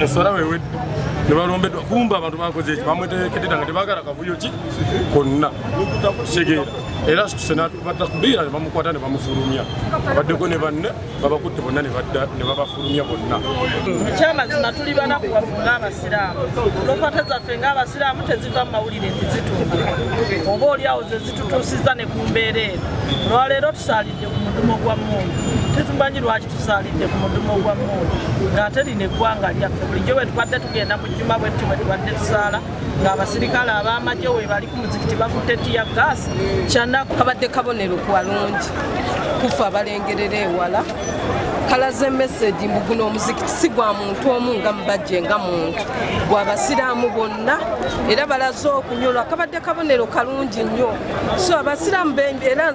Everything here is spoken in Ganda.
eswala wewedde nebalombeddwa kumba abantu bakoze eki bamwetekedera nga tebagala kavuyo ki konna kitegeera era situse batakubira nebamukwata nebamufulumya baddeko ne banne babakutte bonna nebabafulumya bonna ekyamazima tuli banaku waffe ngaabasiraamu lokwata zaffe ngaabasiraamu teziva mu mawulire nti zituuka oba oliawo zezitutuusiza ne ku mbeera eno olwaleero tusalidde mudumo gwa mundu tetumanyi lwaki tusalidde ku mudumo gwa mundu ngaate lino eggwanga lyaffe bulijjo bwetubadde tugenda mu jjuma bwetti bwetubadde tusaala ng'abasirikale ab'amagye webali ku muzikiti bakutte tiya gaasi kyanaku kabadde kabonero kwalungi kufa abalengerera ewala kalaze meseji mbu guno omuzikiti si gwa muntu omu nga mubajje nga muntu gwa basiraamu bonna era balaze okunyolwa kabadde kabonero kalungi nnyo so abasiraamu era